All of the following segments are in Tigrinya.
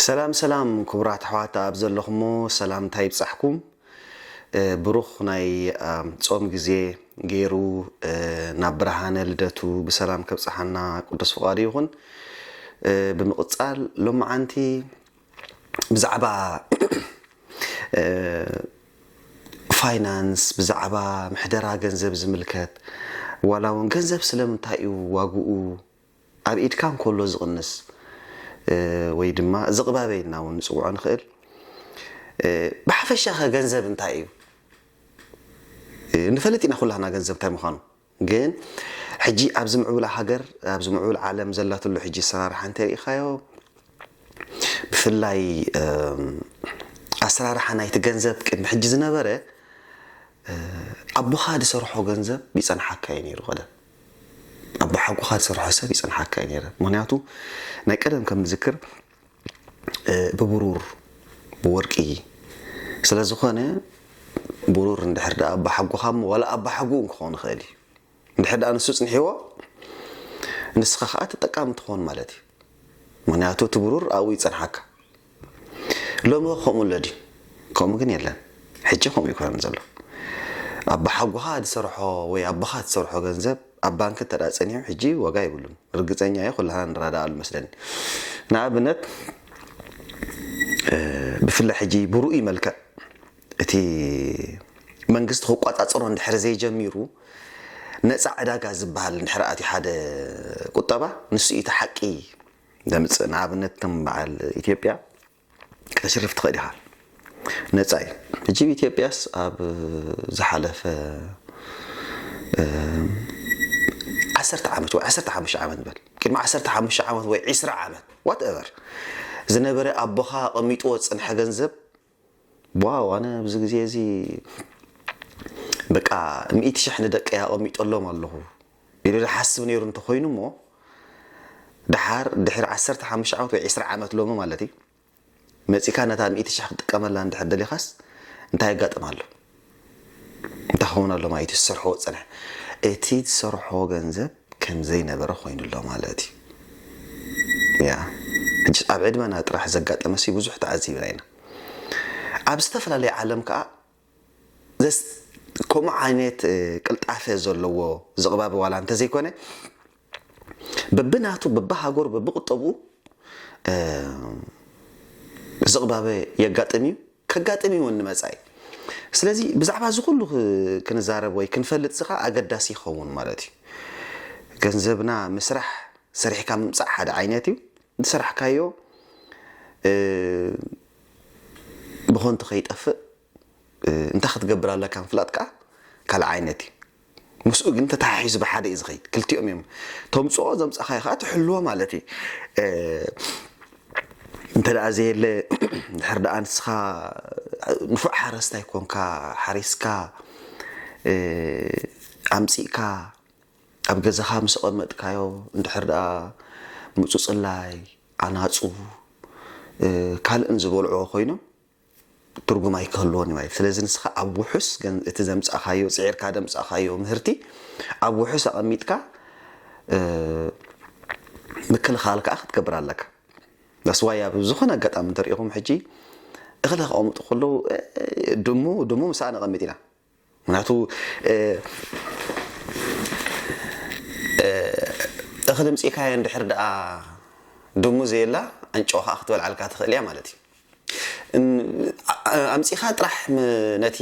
ሰላም ሰላም ክቡራት ኣሕዋት ኣብ ዘለኹሞ ሰላምታ ይብጻሕኩም ብሩኽ ናይ ጾም ግዜ ገይሩ ናብ ብርሃነ ልደቱ ብሰላም ከብጽሓና ቅዱስ ፍቓዱ ይኹን ብምቕጻል ሎመዓንቲ ብዛዕባ ፋይናንስ ብዛዕባ ምሕደራ ገንዘብ ዝምልከት ዋላ እውን ገንዘብ ስለምንታይ እዩ ዋግኡ ኣብ ኢድካ እንከሎ ዝቕንስ ወይ ድማ ዝቕባበ ኢልና እውን ንፅውዖ ንኽእል ብሓፈሻኸ ገንዘብ እንታይ እዩ ንፈልጥ ኢና ኩላህና ገንዘብ እንታይ ምዃኑ ግን ሕጂ ኣብዚ ምዕቡላ ሃገር ኣብዚ ምዕቡል ዓለም ዘላትሉ ሕጂ ኣሰራርሓ እንተሪኢኻዮ ብፍላይ ኣሰራርሓ ናይቲ ገንዘብ ቅድሚ ሕጂ ዝነበረ ኣቦኻ ዝሰርሖ ገንዘብ ይጸንሓካ እዩ ነይሩ ቀደም ኣቦ ሓጎኻ ዝሰርሖ ሰብ ይጸንሓካ እዩ ነይረ ምክንያቱ ናይ ቀደም ከም ዝክር ብብሩር ብወርቂ ስለ ዝኾነ ብሩር እንድሕር ደኣ ኣባሓጎኻ እሞ ዋላ ኣባሓጉኡ እውን ክኾን ይኽእል እዩ እንድሕር ደኣ ንሱ ጽንሒዎ ንስኻ ከኣ ተጠቃሚ ትኾን ማለት እዩ ምክንያቱ እቲ ብሩር ኣብኡ ይጸንሓካ ሎሚ ከምኡ ኣሎ ድዩ ከምኡ ግን የለን ሕጂ ከምኡ ኣይኮነን ዘሎ ኣባሓጎኻ ዝሰርሖ ወይ ኣቦኻ ዝሰርሖ ገንዘብ ኣብ ባንኪ እንተ ጸኒሑ ሕጂ ዋጋ የብሉን ርግጸኛ እየ ኩላህና ንራዳኣሉ መስለኒ ንኣብነት ብፍላይ ሕጂ ብሩኡይ መልክዕ እቲ መንግስቲ ክቆጻጸሮ እንድሕር ዘይጀሚሩ ነጻ ዕዳጋ ዝበሃል እንድሕር ኣትዩ ሓደ ቁጠባ ንሱ እዩ እቲ ሓቂ ዘምጽእ ንኣብነት ከም በዓል ኢትዮጵያ ከተሽርፍ ትኽእል ኢኻ ነጻ እዩ። ሕጂ ብ ኢትዮጵያስ ኣብ ዝሓለፈ ዓሰርተ ዓመት ወይ ዓሰርተ ሓሙሽተ ዓመት ንበል ቅድሚ ዓሰርተ ሓሙሽተ ዓመት ወይ ዒስራ ዓመት ዋት ኤቨር ዝነበረ ኣቦኻ ኣቐሚጥዎ ዝጸንሐ ገንዘብ ዋው ኣነ ኣብዚ ግዜ እዚ በቃ ሚእቲ ሽሕ ንደቀይ ኣቐሚጠሎም ኣለኹ ኢሉ ዝሓስብ ነይሩ እንተኾይኑ እሞ ደሓር ድሕሪ ዓሰርተ ሓሙሽተ ዓመት ወይ ዕስራ ዓመት ሎሚ ማለት እዩ መጺእካ ነታ ሚእቲ ሽሕ ክትጥቀመላ እንድሕር ደሊኻስ እንታይ የጋጥም ኣሎ እንታይ ክኸውን ኣሎ ማለት እዩ ዝሰርሖ ዝጸንሐ እቲ ዝሰርሖ ገንዘብ ከም ዘይነበረ ኮይኑ ኣሎ ማለት እዩ ያ ሕጂ ኣብ ዕድመና ጥራሕ ዘጋጠመሲ ብዙሕ ተዓዚብና ኢና ኣብ ዝተፈላለየ ዓለም ከዓ ዘስ ከምኡ ዓይነት ቅልጣፈ ዘለዎ ዝቕባበ ዋላ እንተዘይኮነ በብናቱ በብሃገሩ በብቁጠብኡ ዝቕባበ የጋጥም እዩ ከጋጥም እዩ እውን ንመጻኢ ስለዚ ብዛዕባ እዚ ኩሉ ክንዛረብ ወይ ክንፈልጥ እዚ ከዓ ኣገዳሲ ይኸውን ማለት እዩ ገንዘብና ምስራሕ ሰሪሕካ ምምፃእ ሓደ ዓይነት እዩ ዝሰራሕካዮ ብኸንቱ ከይጠፍእ እንታይ ክትገብር ኣለካ ምፍላጥ ከኣ ካልእ ዓይነት እዩ። ምስኡ ግን ተተሓሒዙ ብሓደ እዩ ዝኸይድ። ክልቲኦም እዮም ተምጽኦ ዘምጻኻዮ ከኣ ትሕልዎ ማለት እዩ። እንተ ደኣ ዘየለ እንድሕር ደኣ ንስኻ ንፉዕ ሓረስታይ ኮንካ ሓሪስካ ኣምጺእካ ኣብ ገዛኻ ምስ ኣቐመጥካዮ እንድሕር ደኣ ምጹጽላይ፣ ኣናጹ፣ ካልእን ዝበልዕዎ ኮይኖም ትርጉም ኣይክህልዎን እዩ ማለት እዩ። ስለዚ ንስኻ ኣብ ውሑስ ገን እቲ ዘምጻእካዮ ጽዒርካ ደምጻእካዮ ምህርቲ ኣብ ውሑስ ኣቐሚጥካ ምክልኻል ከኣ ክትገብር ኣለካ። ዳስ ዋይ ኣብ ዝኾነ ኣጋጣሚ እንተሪኢኹም ሕጂ እኽሊ ከቐምጡ ከለዉ ድሙ ድሙ ምስኣ ነቐምጥ ኢና ምክንያቱ እኽሊ ኣምጺእካዮ እንድሕር ደኣ ድሙ ዘየላ ኣንጭዋ ከኣ ክትበልዓልካ ትኽእል እያ ማለት እዩ። ኣምጺእካ ጥራሕ ነቲ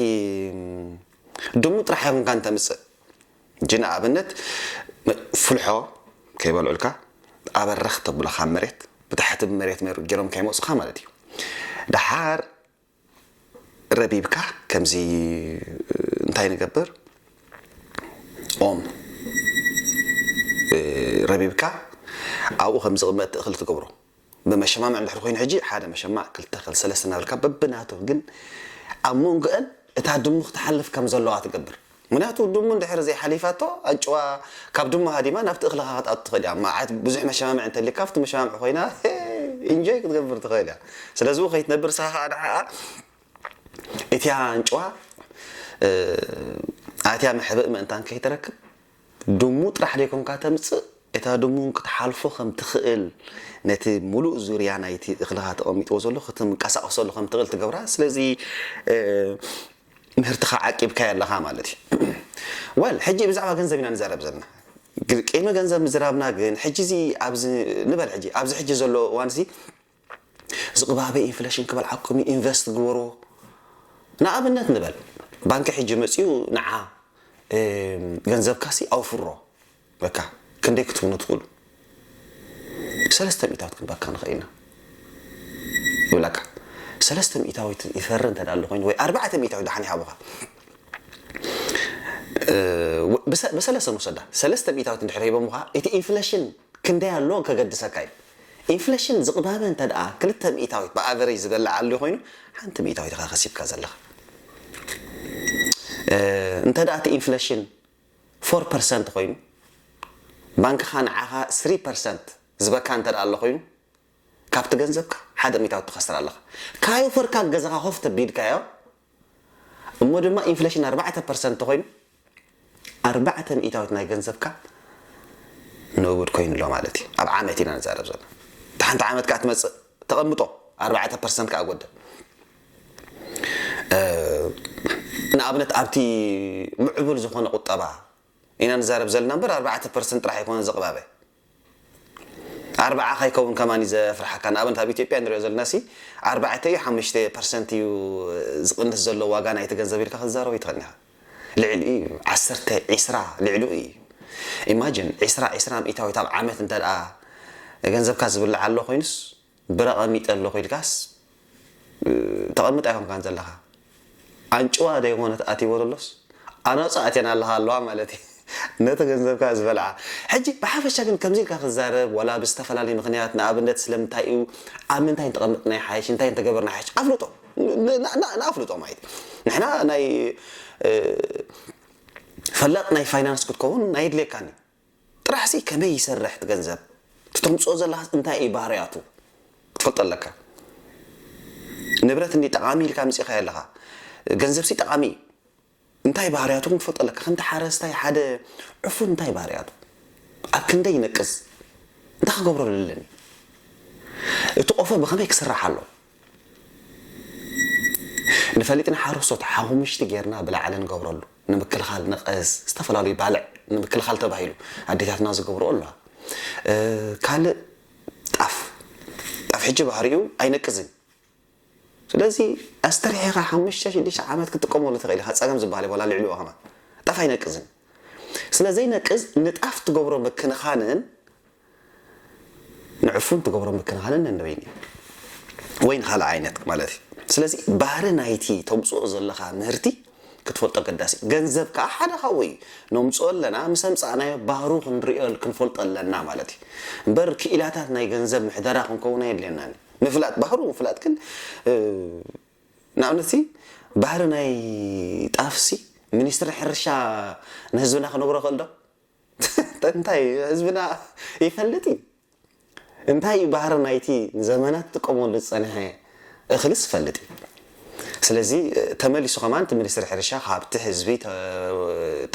ድሙ ጥራሕ ኣይኹንካ እንተምጽእ እንጂ ንኣብነት ፍልሖ ከይበልዑልካ ኣበረኽ ተብሎ ካብ መሬት ብታሕቲ ብመሬት ጌሮም ከይመጹኻ ማለት እዩ። ደሓር ረቢብካ ከምዚ እንታይ ንገብር ኦም ረቢብካ ኣብኡ ከም ዝቕመጥ ትእኽል ትገብሮ ብመሸማምዕ እንድሕር ኮይኑ ሕጂ ሓደ መሸማዕ ክልተ ክል ሰለስተ እናበልካ በብናቱ ግን ኣብ መንጎአን እታ ድሙ ክትሓልፍ ከም ዘለዋ ትገብር ምክንያቱ ድሙ እንድሕር ዘይሓሊፋቶ ኣጭዋ ካብ ድሙ ሃዲማ ናብቲ እክልካ ክትኣቱ ትክእል እያ መዓት ብዙሕ መሸማምዒ እንተሊካ ኣብቲ መሸማምዒ ኮይና ኢንጆይ ክትገብር ትክእል እያ ስለዚ እው ከይትነብር ንስካ ከዓ ንዓኣ እቲያ ኣንጭዋ ኣትያ መሕብእ ምእንታን ከይትረክብ ድሙ ጥራሕ ደይኮንካ ተምፅእ እታ ድሙ እውን ክትሓልፎ ከም ትክእል ነቲ ሙሉእ ዙርያ ናይቲ እክልካ ተቐሚጥዎ ዘሎ ክትንቀሳቐሰሉ ከም ትክእል ትገብራ ስለዚ ምህርትኻ ዓቂብካዮ ኣለኻ ማለት እዩ። Well ሕጂ ብዛዕባ ገንዘብ ኢና ንዛረብ ዘለና። ቅይሚ ገንዘብ ምዝራብና ግን ሕጂ እዚ ኣብዚ ንበል ሕጂ ኣብዚ ሕጂ ዘሎ እዋን እዚ ዝቕባበ ኢንፍለሽን ክበልዓኩም እዩ ኢንቨስት ግበርዎ ንኣብነት ንበል ባንኪ ሕጂ መጺኡ ንዓ ገንዘብካሲ ኣውፍሮ በካ ክንደይ ክትብሉ ትክእሉ ሰለስተ ሚእታዊት ክንበካ ንክእል ኢና ይብላካ ሰለስተ ሚእታዊት ይፈሪ እንተ ኣሎ ኮይኑ ወይ ኣርባዕተ ሚእታዊት ዳሓን ይሃቡካ ብሰለሰ ንውሰዳ ሰለስተ ሚእታዊት እንድሕር ሂቦምካ እቲ ኢንፍለሽን ክንደይ ኣሎ ከገድሰካ እዩ ኢንፍለሽን ዝቕባበ እንተ ደኣ ክልተ ሚእታዊት ብኣቨሬጅ ዝበልዕ ኣልዩ ኮይኑ ሓንቲ ሚእታዊት ኢኻ ከሲብካ ዘለኻ እንተ ደኣ እቲ ኢንፍለሽን ፎር ፐርሰንት ኮይኑ ባንክኻ ንዓኻ ስሪ ፐርሰንት ዝበካ እንተ ኣሎ ኮይኑ ካብቲ ገንዘብካ ሓደ ሚታዊ ትኸስር ኣለኻ ካዮፈርካ ገዛኻ ኮፍ ተቢልካዮ እሞ ድማ ኢንፍሌሽን ኣርባዕተ ፐርሰንት ተኾይኑ ኣርባዕተ ሚእታዊት ናይ ገንዘብካ ንውድ ኮይኑ ኣሎ ማለት እዩ ኣብ ዓመት ኢና ንዛረብ ዘለና እቲ ሓንቲ ዓመት ከዓ ትመፅእ ተቐምጦ ኣርባዕተ ፐርሰንት ከዓ ጎደል ንኣብነት ኣብቲ ምዕቡል ዝኾነ ቁጠባ ኢና ንዛረብ ዘለና እምበር ኣርባዕተ ፐርሰንት ጥራሕ ኣይኮነን ዝቕባበ ኣርባዓ ከይከውን ከማን እዩ ዘፍርሓካ ንኣብነት ኣብ ኢትዮጵያ ንሪኦ ዘለናሲ ኣርባዕተ እዩ ሓሙሽተ ፐርሰንት እዩ ዝቕንስ ዘሎ ዋጋ ናይቲ ገንዘብ ኢልካ ክትዛረብ ኣይትኽእልን ኢኻ ልዕሊኡ እዩ ዓሰርተ ዒስራ ልዕሊኡ እዩ ኢማጅን ዒስራ ዒስራ ሚእታዊት ኣብ ዓመት እንተ ገንዘብካ ዝብላዕ ኣሎ ኮይኑስ ብረ ቀሚጠ ኣለኹ ኢልካስ ተቐምጥ ኣይኮንካን ዘለኻ ኣንጭዋ ደይኾነት ኣትይዎ ዘሎስ ኣናጹ ኣትየን ኣለኻ ኣለዋ ማለት እዩ ነቲ ገንዘብካ ዝበልዓ ሕጂ ብሓፈሻ ግን ከምዚ ኢልካ ክዛረብ ዋላ ብዝተፈላለዩ ምኽንያት ንኣብነት ስለምንታይ እዩ ኣብ ምንታይ እንተቐመጥና ይሓይሽ እንታይ እንተገበርና ይሓይሽ ኣፍልጦ ንኣፍልጦ ማለት ንሕና ናይ ፈላጥ ናይ ፋይናንስ ክትከውን ኣየድልየካን እዩ ጥራሕሲ ከመይ ይሰርሕ እቲ ገንዘብ እቲ ተምጽኦ ዘለካስ እንታይ እዩ ባህርያቱ ክትፈልጦ ኣለካ ንብረት እንድዩ ጠቃሚ ኢልካ ኣምጺካዮ ኣለካ ገንዘብሲ ጠቃሚ እዩ እንታይ ባህርያቱ ግን ክትፈልጦ ኣለካ ከምቲ ሓረስታይ ሓደ ዕፉን እንታይ ባህርያቱ ኣብ ክንደይ ይነቅዝ እንታይ ክገብረሉ ኣለኒ እቲ ቆፎ ብከመይ ክስራሕ ኣለዎ ንፈሊጥ ንሓረስቶት ሓሙምሽቲ ጌርና ብላዕሊ ንገብረሉ ንምክልኻል ነቐዝ ዝተፈላለዩ ባልዕ ንምክልኻል ተባሂሉ ኣዴታትና ዝገብርኦ ኣለዋ ካልእ ጣፍ ጣፍ ሕጂ ባህሪኡ ኣይነቅዝን ስለዚ ኣስተርሒኻ ሓሙሽተ ሽዱሽተ ዓመት ክትጥቀመሉ ትኽእል ኢኻ ፀገም ዝበሃል የብሉን ኣልዕልዎ ከማን ጣፍ ኣይነቅዝን ስለዘይነቅዝ ንጣፍ ትገብሮ ምክንኻንን ንዕፉን ትገብሮ ምክንኻንን ነንበይኑ እዩ ወይ ንኻልእ ዓይነት ማለት እዩ ስለዚ ባህሪ ናይቲ ተምጽኦ ዘለኻ ምህርቲ ክትፈልጦ ኣገዳሲ እዩ ገንዘብ ከኣ ሓደ ካብኡ እዩ ነምጽኦ ኣለና ምስ ኣምጻእናዮ ባህሩ ክንርእዮ ክንፈልጦ ኣለና ማለት እዩ እምበር ክኢላታት ናይ ገንዘብ ምሕደራ ክንከውን ኣየድልየናን ምፍላጥ ባህሩ ምፍላጥ ግን ንኣብነት ባህሪ ናይ ጣፍሲ ሚኒስትሪ ሕርሻ ንህዝብና ክነግሮ ክእል ዶ እንታይ እዩ ህዝብና ይፈልጥ እዩ እንታይ እዩ ባህሪ ናይቲ ንዘመናት ትጥቀመሉ ዝጸንሐ እኽልስ ይፈልጥ እዩ ስለዚ ተመሊሱ ከማን እቲ ሚኒስትሪ ሕርሻ ካብቲ ህዝቢ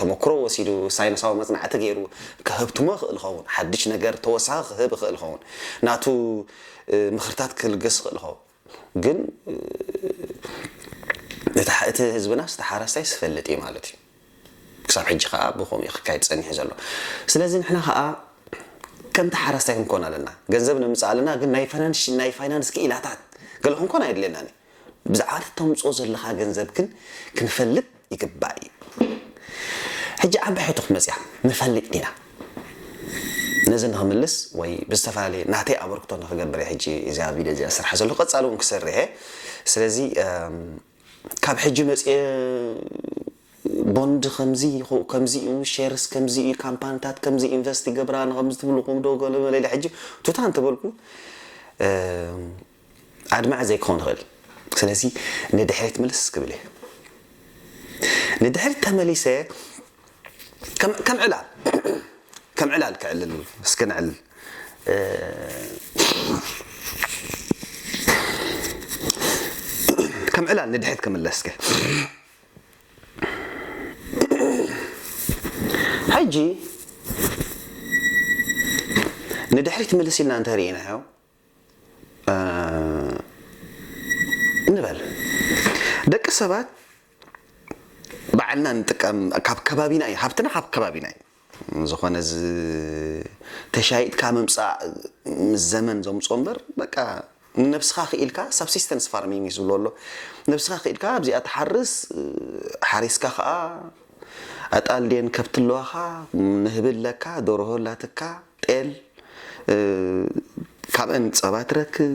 ተመክሮ ወሲዱ ሳይንሳዊ መጽናዕቲ ገይሩ ከህብትሞ ይኽእል ይኸውን ሓድሽ ነገር ተወሳኺ ክህብ ይኽእል ይኸውን ናቱ ምኽርታት ክልገስ ይኽእል ይኸውን ግን እቲ ህዝብናስ እቲ ሓራስታይስ ዝፈልጥ እዩ ማለት እዩ። ክሳብ ሕጂ ከኣ ብከምኡ እዩ ክካየድ ጸኒሑ ዘሎ። ስለዚ ንሕና ከኣ ከምቲ ሓራስታይ ክንኮን ኣለና። ገንዘብ ነምጽእ ኣለና ግን ናይ ፋይናንስ ናይ ፋይናንስ ክኢላታት ገለ ክንኮን ኣየድልየናን እዩ። ብዛዕባ እቲ ተምጽኦ ዘለኻ ገንዘብ ግን ክንፈልጥ ይግባእ እዩ ሕጂ ዓባይ ሕቶ ክትመጽያ ንፈልጥ ዲና ነዚ ንክምልስ ወይ ብዝተፈላለየ ናተይ ኣበርክቶ ንክገብር እየ ሕጂ እዚኣ ቪድዮ እዚኣ ስራሕ ዘሎ ቀጻሊ እውን ክሰርሕ እየ ስለዚ ካብ ሕጂ መጽየ ቦንድ ከምዚ ከምዚ እዩ ሼርስ ከምዚ እዩ ካምፓኒታት ከምዚ ኢንቨስት ይገብራ ንከምዚ ትብልኩም ዶ ገለ መለ ኢለ ሕጂ ቱታ እንተበልኩ ኣድማዒ ዘይክኸውን ይኽእል ስለዚ ንድሕሪት ምልስ ክብል እየ ንድሕሪት ተመሊሰ ከም ከም ዕላል ከም ዕላል ክዕልል እስከ ንዕልል ከም ዕላል ንድሕሪት ክምለስ ከ ሕጂ ንድሕሪት ምልስ ኢልና እንተሪኢናዮ ንበል ደቂ ሰባት ባዕልና ንጥቀም ካብ ከባቢና እዩ ሃፍትና ካብ ከባቢና እዩ ዝኾነ ተሻይጥካ ምምፃእ ምስ ዘመን ዘምፆ እምበር በቃ ንነብስኻ ክኢልካ ሳብሲስተንስ ፋርሚንግ እዩ ዝብሎ ኣሎ ነብስኻ ክኢልካ ኣብዚኣ ትሓርስ ሓሪስካ ከዓ ኣጣል ድየን ከብቲ ኣለዋኻ ንህቢ ኣለካ ደርሆ ኣላትካ ጤል ካብእን ጸባ ትረክብ፣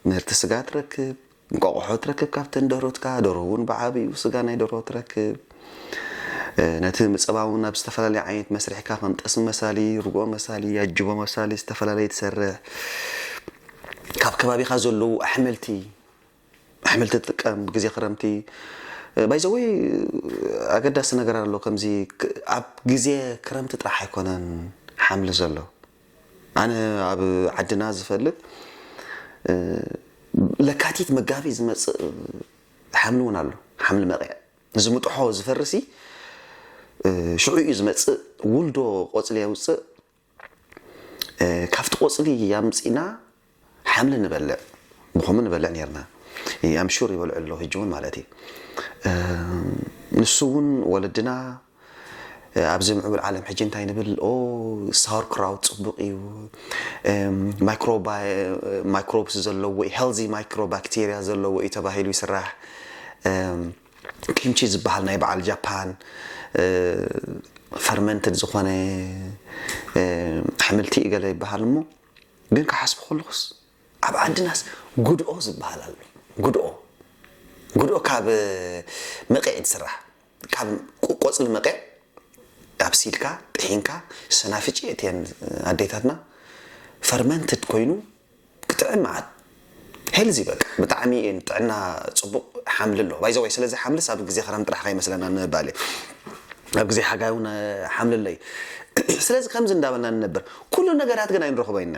ምህርቲ ስጋ ትረክብ፣ እንቋቑሖ ትረክብ ካብተን ደርሁትካ፣ ደርሁ እውን ብዓቢኡ ስጋ ናይ ደርሆ ትረክብ። ነቲ ጸባ እውን ኣብ ዝተፈላለየ ዓይነት መስርሕካ ከም ጠስሚ መሳሊ፣ ርግኦ መሳሊ፣ ኣጅቦ መሳሊ ዝተፈላለየ ትሰርሕ። ካብ ከባቢኻ ዘለዉ ኣሕምልቲ። ኣሕምልቲ ትጥቀም ብግዜ ክረምቲ ባይ ዘ ወይ ኣገዳሲ ነገር ኣሎ ከምዚ ኣብ ግዜ ክረምቲ ጥራሕ ኣይኮነን ሓምሊ ዘሎ ኣነ ኣብ ዓድና ዝፈልጥ ለካቲት መጋቢት ዝመፅእ ሓምሊ እውን ኣሎ ሓምሊ መቂዕ እዚ ምጥሖ ዝፈርሲ ሽዑ እዩ ዝመፅእ ውልዶ ቆፅሊ የውፅእ ካብቲ ቆጽሊ ኣምጺና ሓምሊ ንበልዕ ብከሙ ንበልዕ ነርና ኣም ሹር ይበልዑ ኣሎ ህጂ ውን ማለት እዩ ንሱ ውን ወለድና ኣብዚ ምዕቡል ዓለም ሕጂ እንታይ ንብል ኦ ሳውር ክራውት ጽቡቅ እዩ ማይክሮብስ ዘለዎ ዩ ሄልዚ ማይክሮባክቴርያ ዘለዎ እዩ ተባሂሉ ይስራሕ ኪምቺ ዝበሃል ናይ በዓል ጃፓን ፈርመንትድ ዝኾነ ኣሕምልቲ እዩ ገለ ይበሃል እሞ ግን ክሓስቡ ከለኹስ ኣብ ዓድናስ ጉድኦ ዝበሃል ኣሎ ጉድኦ ጉድኦ ካብ መቐዕ እዩ ዝስራሕ ካብ ቆፅሊ መቐዕ ኣብሲልካ ጥሒንካ ሰናፍጭ የእትየን ኣዴታትና ፈርመንትድ ኮይኑ ክትዕን መዓት ሄልዚ በቃ ብጣዕሚ እየ ንጥዕና ጽቡቅ ሓምሊ ኣሎ ባይ ዘ ወይ ስለዚ ሓምልስ ኣብ ግዜ ክረምቲ ጥራሕ ከይመስለና ንምባል እየ ኣብ ግዜ ሓጋይ እውን ሓምሊ ኣሎ እዩ ስለዚ ከምዚ እንዳበልና ንነብር ኩሉ ነገራት ግን ኣይንረኽቦ ኢና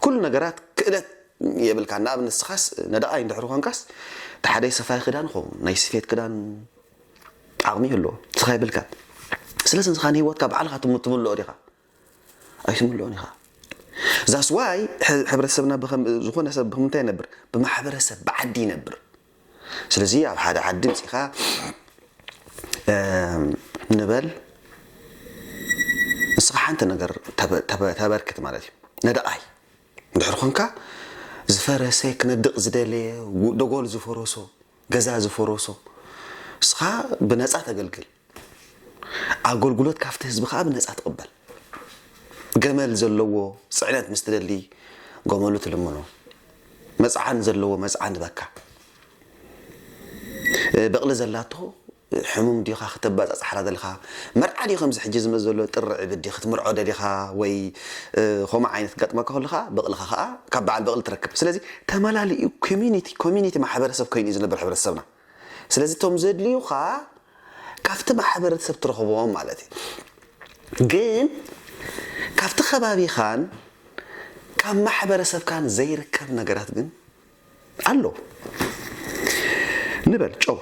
ኩሉ ነገራት ክእለት የብልካን ንኣብነት ንስኻስ ነዳቓይ እንድሕሪ ኮንካስ ተሓደይ ሰፋይ ክዳን ይኸውን ናይ ስፌት ክዳን ዓቕሚ ይህልዎ ንስኻ የብልካን ስለዚ ንስኻ ንሂወትካ ባዕልኻ ትምልኦ ዲኻ ኣይትምልኦን ኢኻ ዛስ ዋይ ሕብረተሰብና ዝኾነ ሰብ ብምንታይ ይነብር ብማሕበረሰብ ብዓዲ ይነብር ስለዚ ኣብ ሓደ ዓዲ ምፂኻ ንበል ንስኻ ሓንቲ ነገር ተበርክት ማለት እዩ ነደቓይ እንድሕር ኮንካ ዝፈረሰ ክነድቕ ዝደለየ ደጎል ዝፈረሶ ገዛ ዝፈረሶ ንስኻ ብነፃ ተገልግል ኣጎልጉሎት ካፍቲ ህዝቢ ከኣ ብነጻ ትቅበል። ገመል ዘለዎ ጽዕነት ምስ ትደሊ ጎመሉ ትልምኖ። መጽዓን ዘለዎ መጽዓን ትበካ። በቅሊ ዘላቶ ሕሙም ዲካ ክተባጻጻሕራ ደልካ። መርዓ ድዩ ከምዚ ሕጂ ዝመጽ ዘሎ ጥሪ ዕብዲ ክትምርዖ ደሊካ ወይ ኮምኡ ዓይነት ክጋጥመካ ከሎ ከኣ በቅልካ ከኣ ካብ በዓል በቅሊ ትረክብ። ስለዚ ተመላሊኡ ኮሚኒቲ ኮሚኒቲ ማሕበረሰብ ኮይኑ እዩ ዝነብር ሕብረተሰብና። ስለዚ እቶም ዘድልዩኻ ካብቲ ማሕበረሰብ ትረኽቦም ማለት እዩ። ግን ካብቲ ከባቢኻን ካብ ማሕበረሰብካን ዘይርከብ ነገራት ግን ኣሎ። ንበል ጨው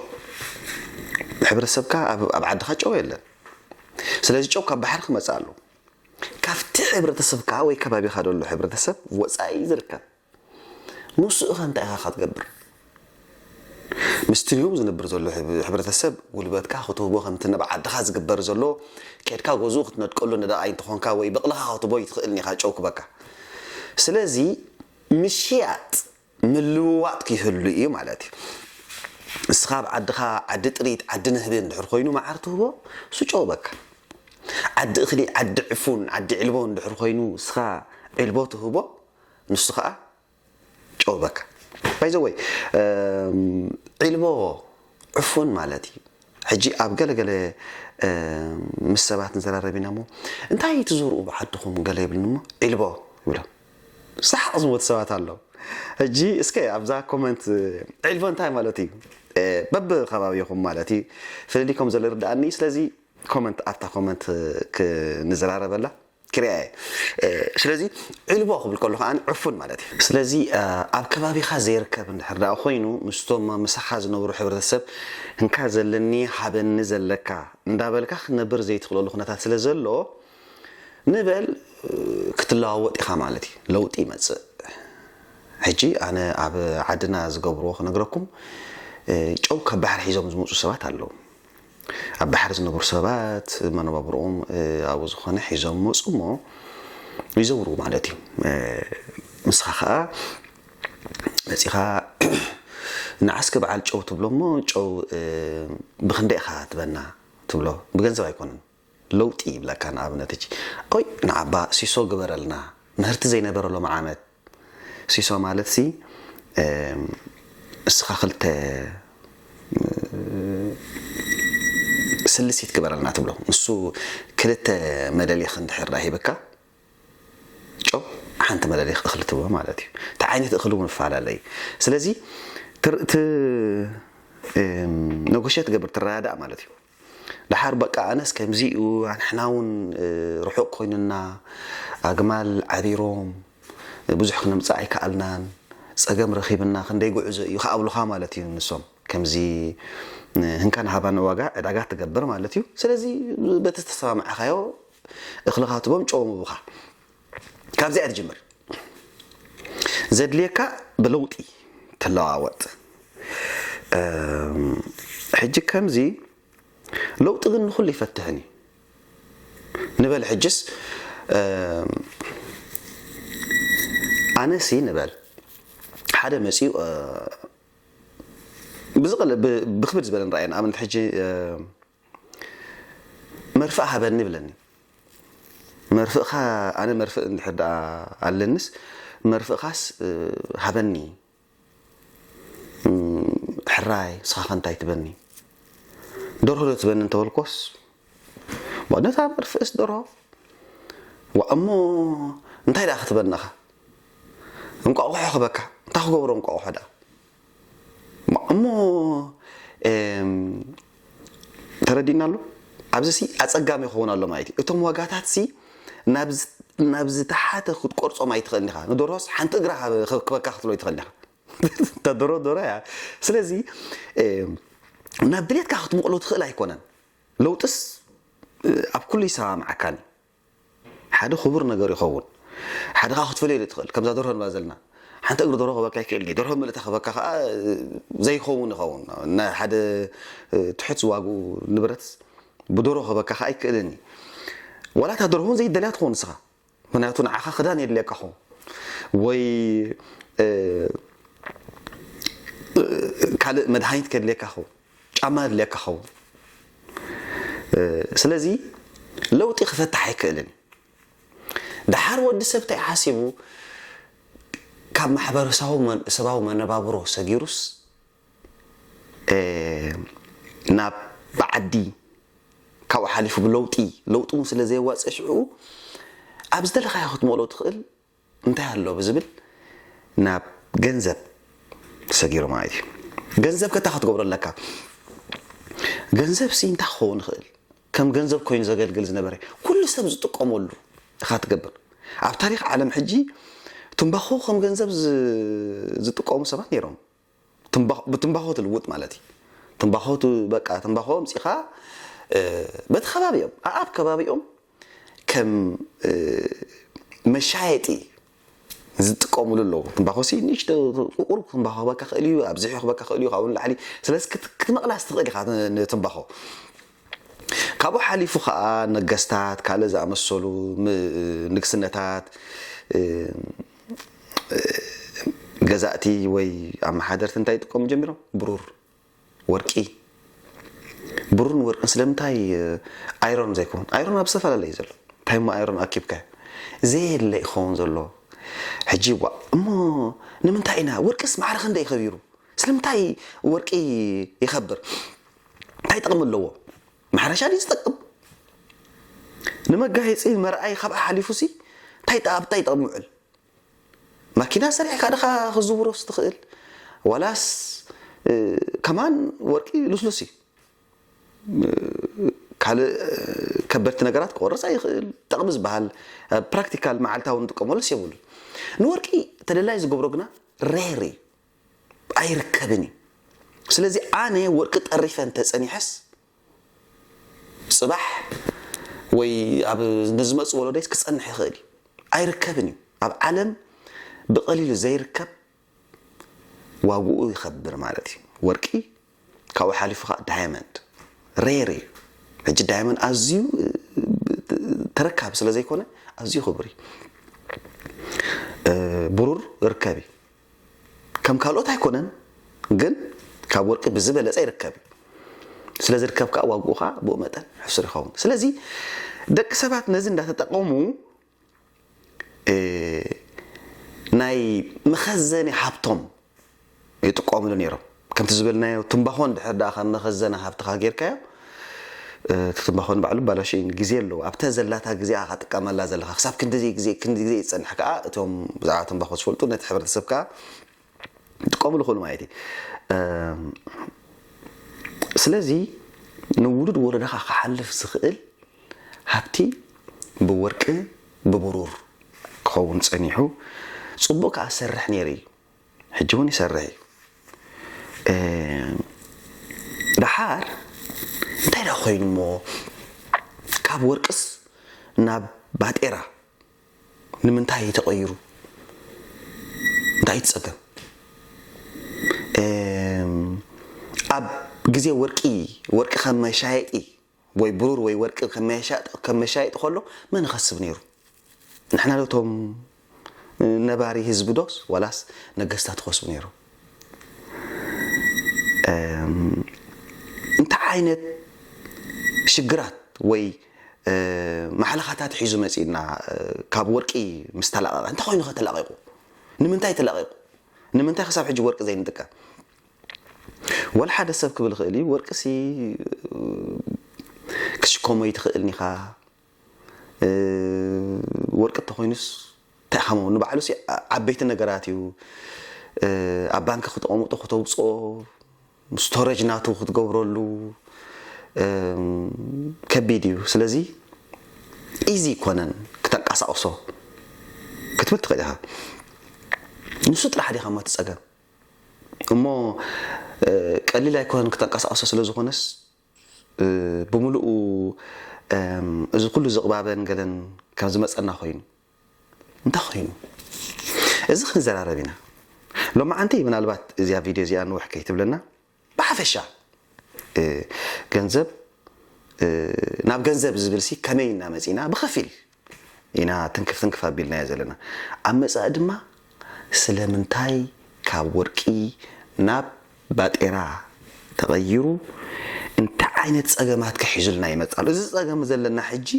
ሕብረተሰብካ ኣብ ኣብ ዓድኻ ጨው የለን። ስለዚ ጨው ካብ ባሕሪ ክመጽእ ኣለዎ። ካብቲ ሕብረተሰብካ ወይ ከባቢኻ ዘሎ ሕብረተሰብ ወጻኢ ዝርከብ ንሱ'ኸ እንታይ ኢኻ ክትገብር? ምስቲ ዮም ዝነብር ዘሎ ሕብረተሰብ ጉልበትካ ክትህቦ ከምቲ ነብ ዓድኻ ዝግበር ዘሎ ኬድካ ገዝኡ ክትነድቀሉ ነዳቓይ እንተኾንካ ወይ ብቕልኻ ክትህቦ ኣይትኽእልን ኢኻ ጨው ክበካ ስለዚ ምሽያጥ ምልውዋጥ ክይህሉ ኢዩ ማለት ኢዩ ንስኻ ኣብ ዓድኻ ዓዲ ጥሪት ዓዲ ንህቢ እንድሕር ኮይኑ መዓር ትህቦ እሱ ጨው በካ ዓዲ እኽሊ ዓዲ ዕፉን ዓዲ ዒልቦ እንድሕር ኮይኑ ንስኻ ዒልቦ ትህቦ ንሱ ከኣ ጨው በካ ባይ ዘ ወይ ዒልቦ ዕፉን ማለት እዩ ሕጂ ኣብ ገለ ገለ ምስ ሰባት ንዘራረብ ኢና እሞ እንታይ ትዘርኡ ብዓድኹም ገለ ይብልኒ እሞ ዒልቦ ይብሎም ሳሓቕ ዝሞት ሰባት ኣለዉ ሕጂ እስከ ኣብዛ ኮመንት ዒልቦ እንታይ ማለት እዩ በብ ከባቢኹም ማለት እዩ ፍልልይ ከም ዘሎ ይርድኣኒ ስለዚ ኮመንት ኣብታ ኮመንት ክንዘራረበላ ክሪያ እየ ስለዚ ዒልቦ ክብል ከሎ ከኣ ዕፉን ማለት እዩ። ስለዚ ኣብ ከባቢኻ ዘይርከብ እንድሕር ደኣ ኮይኑ ምስቶም ምሳኻ ዝነብሩ ሕብረተሰብ እንካ ዘለኒ ሃበኒ ዘለካ እንዳበልካ ክትነብር ዘይትኽእለሉ ኩነታት ስለ ዘሎ ንበል ክትለዋወጥ ኢኻ ማለት እዩ ለውጢ ይመጽእ። ሕጂ ኣነ ኣብ ዓድና ዝገብርዎ ክነግረኩም ጨው ካብ ባሕሪ ሒዞም ዝመጹ ሰባት ኣለዉ። ኣብ ባሕሪ ዝነብሩ ሰባት መነባብርኦም ኣብኡ ዝኾነ ሒዞም መፁ እሞ ይዘውሩ ማለት እዩ ንስኻ ከዓ መፂኻ ንዓስከ በዓል ጨው ትብሎ እሞ ጨው ብክንደይ ኢኻ ትበና ትብሎ ብገንዘብ ኣይኮነን ለውጢ ይብለካ ንኣብነት እጂ ኦይ ንዓባ ሲሶ ግበረልና ምህርቲ ዘይነበረ ሎሚ ዓመት ሲሶ ማለት ሲ እስኻ ክልተ ስልሲት ግበረልና ትብሎ ንሱ ክልተ መለሊኽ እንድሕር ዳኣ ሂብካ ጨው ሓንቲ መለሊኽ እኽሊ ትብሎ ማለት እዩ እቲ ዓይነት እኽሊ እውን ይፈላለ እዩ ስለዚ ነጎሸት ገብር ትረዳዳእ ማለት እዩ ደሓር በቃ ኣነስ ከምዚ እዩ ኣንሕና ውን ርሑቅ ኮይኑና ኣግማል ዓሪሮም ብዙሕ ክነምጽእ ኣይከኣልናን ጸገም ረኺብና ክንደይ ጉዕዞ እዩ ክኣብሉኻ ማለት እዩ ንሶም ከምዚ ህንካን ሃባን ዋጋ ዕዳጋ ትገብር ማለት እዩ ስለዚ በቲ ዝተሰማምዓኻዮ እኽልኻ ትቦም ጨው ምቡኻ ካብዚኣ ትጅምር ዘድልየካ ብለውጢ ትለዋወጥ ሕጂ ከምዚ ለውጢ ግን ንኹሉ ይፈትሕን እዩ ንበል ሕጅስ ኣነሲ ንበል ሓደ መፅኡ ብዝቕል ብክብድ ዝበለ ንረኣየ ንኣብነት ሕጂ መርፍእ ሃበኒ ይብለኒ መርፍእካ ኣነ መርፍእ እንድሕር ደኣ ኣለንስ መርፍእካስ ሃበኒ ሕራይ ንስኻኸ እንታይ ትበኒ ደርሆ ዶ ትበኒ እንተበልኮስ ነታ መርፍእስ ደርሆ ዋ እሞ እንታይ ደኣ ክትበናኻ እንቋቑሖ ክበካ እንታይ ክገብሮ እንቋቑሖ ደኣ እሞ ተረዲእና ኣሎ ኣብዚ ሲ ኣጸጋሚ ክኸውን ኣሎ ማለት እዩ እቶም ዋጋታት ሲ ናብ ዝተሓተ ክትቆርጾም ኣይትኽእልን ኢኻ ንደርሆስ ሓንቲ እግራ ክበካ ክትሎ ኣይትኽእልን ኢኻ እታ ደሮ ደሮ እያ ስለዚ ናብ ድሌትካ ክትምቕሎ ትኽእል ኣይኮነን ለውጥስ ኣብ ኩሉ ይሰማምዓካን እዩ ሓደ ክቡር ነገር ይኸውን። ሓደ ከኣ ክትፈልዮ ዘይትኽእል ከምዛ ደርሆ ንብላ ዘለና ሓንቲ እግሪ ደርሆ ክህበካ ይክእል ኢዩ። ደርሆ ምልእታ ክህበካ ከኣ ዘይኸውን ይኸውን። ናይ ሓደ ትሑት ዋግኡ ንብረት ብደርሆ ክህበካ ከኣ ኣይክእልን ኢዩ። ዋላ እታ ደርሆ እውን ዘይትደልያ ትኸውን ንስኻ ምኽንያቱ ንዓኻ ክዳን የድልየካ ክኸውን ወይ ካልእ መድሃኒት ከድልየካ ይኸውን። ጫማ የድልየካ ኸውን ስለዚ ለውጢ ክፈትሕ ኣይክእልን ደሓር ወዲ ሰብ ታይ ሓሲቡ ካብ ማሕበረሰባዊ ሰባዊ መነባብሮ ሰጊሩስ ናብ ብዓዲ ካብኡ ሓሊፉ ብለውጢ ለውጢ ውን ስለ ዘየዋጽእ ሽዑ ኣብ ዝደለኻዮ ክትመልኦ ትኽእል እንታይ ኣሎ ብዝብል ናብ ገንዘብ ሰጊሩ ማለት እዩ። ገንዘብ ከ እንታይ ክትገብሮ ኣለካ? ገንዘብሲ እንታይ ክኸውን ይኽእል? ከም ገንዘብ ኮይኑ ዘገልግል ዝነበረ ኩሉ ሰብ ዝጥቀመሉ ኢኻ ትገብር። ኣብ ታሪኽ ዓለም ሕጂ ትምባኾ ከም ገንዘብ ዝጥቀሙ ሰባት ነይሮም። ብትምባኾ ትልውጥ ማለት እዪ ትምባኾ በቃ ትምባኾ ኣምጺኻ በቲ ከባቢኦም ኣኣብ ከባቢኦም ከም መሻየጢ ዝጥቀምሉ ኣለዉ ትምባኾሲ ንእሽቶ ቁቁር ትምባኾ ክህበካ ክእል እዩ ኣብዚሑ ክህበካ ክእል እዩ ካብኡ ንላዕሊ ስለዚ ክትመቕላስ ትኽእል ኢኻ ንትምባኾ ካብኡ ሓሊፉ ከዓ ነገስታት ካልእ ዝኣመሰሉ ንግስነታት ገዛእቲ ወይ ኣመሓደርቲ እንታይ ይጥቀሙ ጀሚሮም? ብሩር፣ ወርቂ። ብሩርን ወርቅን ስለምንታይ ኣይሮን ዘይኮን? ኣይሮን ኣብ ዝተፈላለዩ ዘሎ እንታይ እሞ ኣይሮን ኣኪብካዮ ዘየለ ይኸውን ዘሎ ሕጂ ዋ እሞ ንምንታይ ኢና ወርቅስ ማዕረ ክንደይ ከቢሩ ስለምንታይ ወርቂ ይኸብር እንታይ ጥቕሚ ኣለዎ? ማሕረሻ ድዩ ዝጠቅም ንመጋየጺ መርኣይ ካብኣ ሓሊፉሲ እንታይ ኣብ እንታይ ይጠቕም ይውዕል ማኪና ሰሪሕካ ድኻ ክዝውሮስ ትኽእል ዋላስ ከማን ወርቂ ልስሉስ እዩ ካልእ ከበድቲ ነገራት ክቆርፅ ኣይኽእል ጠቕሚ ዝበሃል ፕራክቲካል መዓልታዊ ንጥቀመሉስ የብሉን ንወርቂ ተደላይ ዝገብሮ ግና ሬር እዩ ኣይርከብን እዩ ስለዚ ኣነ ወርቂ ጠሪፈ እንተጸኒሐስ ጽባሕ ወይ ኣብ ንዝመጽእ ወለዶይስ ክጸንሕ ይኽእል እዩ ኣይርከብን እዩ ኣብ ዓለም ብቐሊሉ ዘይርከብ ዋግኡ ይኸብር ማለት እዩ ወርቂ ካብኡ ሓሊፉ ከኣ ዳያመንድ ሬር እዩ ሕጂ ዳያመንድ ኣዝዩ ተረካቢ ስለ ዘይኮነ ኣዝዩ ክቡር እዩ ብሩር ርከብ እዩ ከም ካልኦት ኣይኮነን ግን ካብ ወርቂ ብዝበለጸ ይርከብ እዩ ስለ ዝርከብ ከዓ ዋግኡ ከዓ ብኡ መጠን ሕሱር ይኸውን ስለዚ ደቂ ሰባት ነዚ እንዳተጠቀሙ ናይ መኸዘኒ ሃብቶም ይጥቀምሉ ነይሮም። ከምቲ ዝበልናዮ ትምባኾ እንድሕር ደኣ ካብ መኸዘኒ ሃብትኻ ጌርካዮ እቲ ትምባኾ ንባዕሉ ባላሸው እዩ ግዜ ኣለዎ ኣብታ ዘላታ ግዜ ኢኻ ትጥቀመላ ዘለኻ ክሳብ ክንድዚ ግዜ ክንድዚ ግዜ ዝጸንሕ ከኣ እቶም ብዛዕባ ትምባኾ ዝፈልጡ ነቲ ሕብረተሰብ ከኣ ክጥቀሙሉ ይኽእሉ ማለት እዩ። ስለዚ ንውሉድ ወለዶኻ ክሓልፍ ዝኽእል ሃብቲ ብወርቂ ብብሩር ክኸውን ጸኒሑ ጽቡቕ ከኣ ዝሰርሕ ነይሩ እዩ። ሕጂ እውን ይሰርሕ እዩ። ደሓር እንታይ ደኣ ኮይኑ እሞ ካብ ወርቅስ ናብ ባጤራ ንምንታይ ተቀይሩ እንታይ እዩ እቲ ጸገም ኣብ ግዜ ወርቂ ወርቂ ከም መሻየጢ ወይ ብሩር ወይ ወርቂ ከም መሻየጢ ከም መሻየጢ ከሎ መን ይኸስብ ነይሩ ንሕና ዶ እቶም ነባሪ ህዝቢ ዶስ ዋላስ ነገስታት ይኸስቡ ነይሩ እንታይ ዓይነት ሽግራት ወይ ማሕለኻታት ሒዙ መጺኡና ካብ ወርቂ ምስ ተላቐቐ እንታይ ኮይኑኸ ተላቒቑ? ንምንታይ ተላቒቑ? ንምንታይ ክሳብ ሕጂ ወርቂ ዘይንጥቀም? ወላ ሓደ ሰብ ክብል ይኽእል እዩ ወርቂሲ ክትሽከሞ ኣይትኽእልን ኢኻ ወርቂ እንተኾይኑስ እንታይ ኢኻ መሆኑ ንባዕሉሲ ዓበይቲ ነገራት እዩ ኣብ ባንኪ ክተቐምጦ ክተውፅኦ ስቶረጅ ናቱ ክትገብረሉ ከቢድ እዩ ስለዚ ኢዚ ኣይኮነን ክተንቀሳቕሶ ክትብል ትኽእል ኢኻ ንሱ ጥራሕ ዲኻ ማቲ ጸገም እሞ ቀሊል ኣይኮነን ክተንቀሳቕሶ ስለ ዝኾነስ ብምልኡ እዚ ኩሉ ዝቕባበን ገለን ካብ ዝመጸና ኮይኑ እንታይ ኮይኑ እዚ ክንዘራረብ ኢና ሎማዓንቲ ምናልባት እዚኣ ቪድዮ እዚኣ ንውሕ ከይትብለና ብሓፈሻ ገንዘብ ናብ ገንዘብ ዝብል ሲ ከመይ እና መጺና ብኸፊል ኢና ትንክፍ ትንክፍ ኣቢልናዮ ዘለና ኣብ መጻኢ ድማ ስለምንታይ ካብ ወርቂ ናብ ባጤራ ተቐይሩ እንታይ ዓይነት ጸገማት ከሒዙልና ይመጽእ ኣሎ እዚ ጸገም ዘለና ሕጂ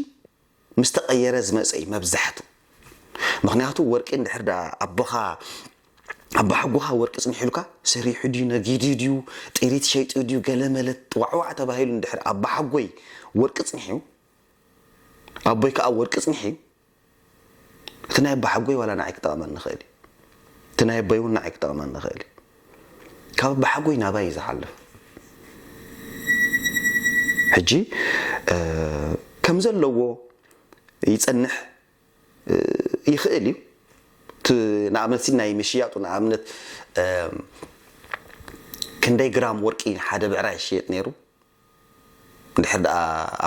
ምስ ተቐየረ ዝመጸ እዩ መብዛሕትኡ። ምኽንያቱ ወርቂ እንድሕር ደኣ ኣቦኻ ኣባሓጎኻ ወርቂ ጽኒሑልካ ሰሪሑ ድዩ ነጊዱ ድዩ ጥሪት ሸይጡ ድዩ ገለ መለ ዋዕዋዕ ተባሂሉ እንድሕር ኣባሓጎይ ወርቂ ጽኒሑ ኣቦይ ከኣ ወርቂ ጽኒሑ እቲ ናይ ኣባሓጎይ ዋላ ንዓይ ክጠቕመኒ ይኽእል እዩ እቲ ናይ ኣቦይ እውን ንዓይ ክጠቕመኒ ይኽእል እዩ ካብ ኣባሓጎይ ናባይ እዩ ዝሓልፍ ሕጂ ከምዘለዎ ይጸንሕ ይኽእል እዩ እቲ ንኣብነት ሲ ናይ ምሽያጡ ንኣብነት ክንደይ ግራም ወርቂ ሓደ ብዕራይ ይሽየጥ ነይሩ ድሕር ደኣ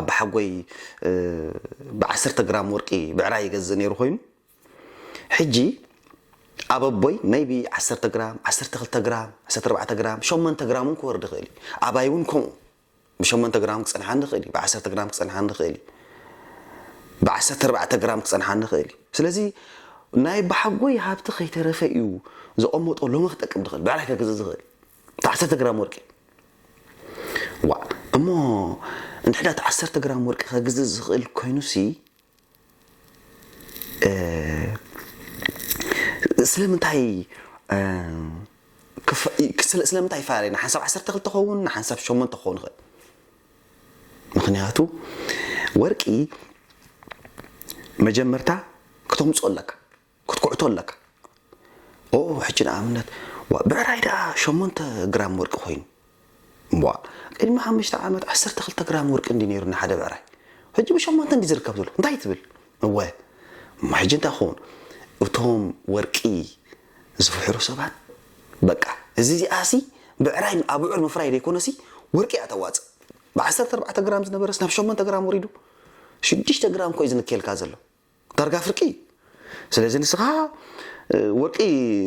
ኣባሓጎይ ብዓሰርተ ግራም ወርቂ ብዕራይ ይገዝእ ነይሩ ኮይኑ ሕጂ ኣብ ኣቦይ maybe ዓሰርተ ግራም፣ ዓሰርተ ክልተ ግራም፣ ዓሰርተ ኣርባዕተ ግራም፣ ሸሞንተ ግራም ውን ክወርድ ይኽእል እዩ። ኣባይ ውን ከምኡ ብሸሞንተ ግራም ክጸንሓኒ ይኽእል እዩ፣ ብዓሰርተ ግራም ክጸንሓኒ ይኽእል እዩ፣ ብዓሰርተ ኣርባዕተ ግራም ክጸንሓኒ ይኽእል እዩ። ስለዚ ናይ ኣቦሓጎይ ሃብቲ ከይተረፈ እዩ ዘቐመጦ ሎሚ ክጠቅም ዝኽእል፣ ብዕራይ ከግዝእ ዝኽእል እታ ዓሰርተ ግራም ወርቂ። ዋእ እሞ እንድሕዳ እታ ዓሰርተ ግራም ወርቂ ከግዝእ ዝኽእል ኮይኑሲ፣ ስለምንታይ ስለምንታይ ይፈላለ ንሓንሳብ ዓሰርተ ክልተ ክኸውን ንሓንሳብ ሸሞንተ ክኸውን ይኽእል ምኽንያቱ ወርቂ መጀመርታ ክተምፅኦ ኣለካ ክትኩዕቶ ኣለካ ኦው ሕጂ ንኣብነት ዋእ ብዕራይ ደኣ ሸሞንተ ግራም ወርቂ ኮይኑ ዋእ ቅድሚ ሓምሽተ ዓመት ዓሰርተ ክልተ ግራም ወርቂ እንድዩ ነይሩ ንሓደ ብዕራይ ሕጂ ብሸሞንተ እንድዩ ዝርከብ ዘሎ እንታይ ትብል እወ እሞ ሕጂ እንታይ ክኸውን እቶም ወርቂ ዝፍሕሩ ሰባት በቃ እዚ እዚኣሲ ብዕራይ ኣብዑር ምፍራይ ዘይኮነሲ ወርቂ እያ ተዋፅእ ብዓሰርተ ኣርባዕተ ግራም ዝነበረስ ናብ ሸሞንተ ግራም ወሪዱ ሽዱሽተ ግራም እኮ እዩ ዝንከየልካ ዘሎ ዳርጋ ፍርቂ ስለዚ ንስኻ ወርቂ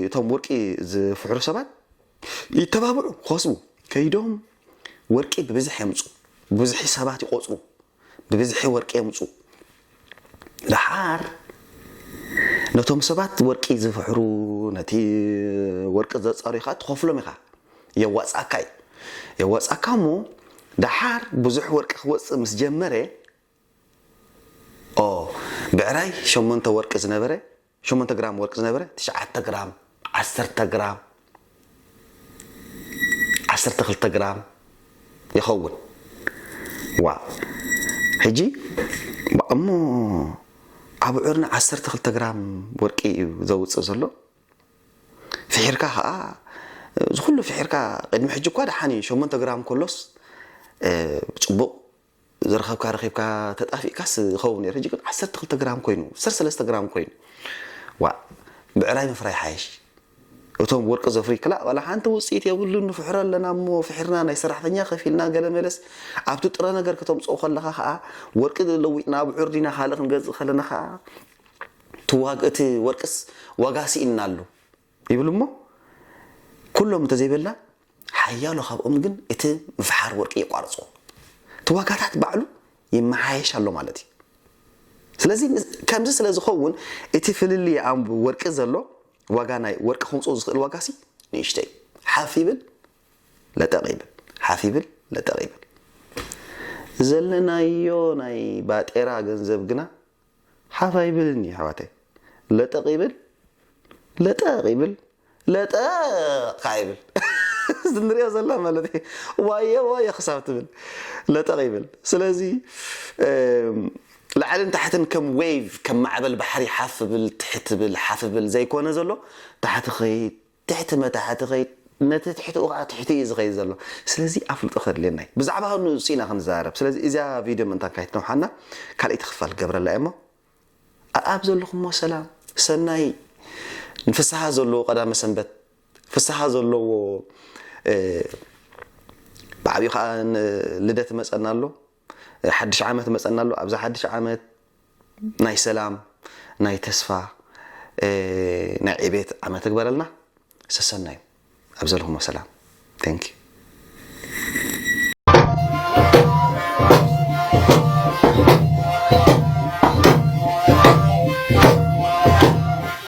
እቶም ወርቂ ዝፍሕሩ ሰባት ይተባብዑ ክኸስቡ ከይዶም ወርቂ ብብዝሒ የምፁ ብብዝሒ ሰባት ይቆፅሩ ብብዝሒ ወርቂ የምፁ ደሓር ነቶም ሰባት ወርቂ ዝፍሕሩ ነቲ ወርቂ ዘፃሩ ኢኻ ትኸፍሎም ኢኻ የዋፅኣካ እዩ የዋፅኣካ እሞ ደሓር ብዙሕ ወርቂ ክወፅእ ምስ ጀመረ o ብዕራይ ሸሞንተ ወርቂ ዝነበረ ሸሞንተ ግራም ወርቂ ዝነበረ ትሽዓተ ግራም ዓሰርተ ግራም ዓሰርተ ክልተ ግራም ይኸውን ዋእ ሕጂ እሞ ኣብዑርና ዓሰርተ ክልተ ግራም ወርቂ እዩ ዘውፅእ ዘሎ ፍሒርካ ከዓ ዝኩሉ ፍሒርካ ቅድሚ ሕጂ እኳ ደሓን እዩ ሸሞንተ ግራም ከሎስ ፅቡቅ ዝረኸብካ ረኺብካ ተጣፊእካስ ይኸውን ነይሩ ሕጂ ግን ዓሰርተ ክልተ ግራም ኮይኑ ዓሰርተ ሰለስተ ግራም ኮይኑ ዋእ ብዕራይ ምፍራይ ይሓይሽ እቶም ወርቂ ዘፍሪ ክላእ ዋላ ሓንቲ ውፅኢት የብሉን ንፍሕሮ ኣለና እሞ ፍሒርና ናይ ሰራሕተኛ ከፊልና ገለ መለስ ኣብቲ ጥረ ነገር ከተምፅኦ ከለኻ ከዓ ወርቂ ለዊጥና ብዑር ዲና ካልእ ክንገዝእ ከለና ከዓ እቲ ወርቅስ ዋጋ ስኢንና ኣሎ ይብል እሞ ኩሎም እንተዘይበልና ሓያሎ ካብኦም ግን እቲ ምፍሓር ወርቂ የቋርጾ። እቲ ዋጋታት ባዕሉ ይመሓየሽ ኣሎ ማለት እዩ። ስለዚ ከምዚ ስለ ዝኸውን እቲ ፍልልይ ኣብ ወርቂ ዘሎ ዋጋ ናይ ወርቂ ከምጽኦ ዝኽእል ዋጋሲ ንእሽቶ እዩ። ሓፍ ይብል ለጠቕ ይብል ሓፍ ይብል ለጠቕ ይብል። ዘለናዮ ናይ ባጤራ ገንዘብ ግና ሓፍ ኣይብልን እዩ ኣሕዋተይ ለጠቕ ይብል ለጠቕ ይብል ለጠቕ ከዓ ይብል እዚ ንሪኦ ዘለና ማለት እዩ ዋየ ዋየ ክሳብ ትብል ለጠቕ ይብል ስለዚ ላዕልን ታሕትን ከም ዌቭ ከም ማዕበል ባሕሪ ሓፍ ብል ትሕት ብል ሓፍ ብል ዘይኮነ ዘሎ ታሕቲ ኸይድ ትሕቲ መታሕት ይኸይድ፣ ነቲ ትሕትኡ ከኣ ትሕቲ እዩ ዝኸይድ ዘሎ። ስለዚ ኣፍልጦ ከድልየና እዩ። ብዛዕባ ንእሱ ኢና ክንዛረብ። ስለዚ እዚኣ ቪድዮ ምእንታን ካይትነውሓና ካልኣይቲ ክፋል ክገብረላ እየ እሞ ኣኣብ ዘለኹሞ ሰላም ሰናይ ን ፍስሃ ዘለዎ ቀዳመ ሰንበት ፍስሃ ዘለዎ ብዓቢኡ ከኣ ልደት እመጸና ኣሎ። ሓድሽ ዓመት መጸና ኣሎ ኣብዛ ሓድሽ ዓመት ናይ ሰላም ናይ ተስፋ ናይ ዕቤት ዓመት ትግበረልና ሰሰናዩ ኣብ ዘለኹሞ ሰላም ቴንኪ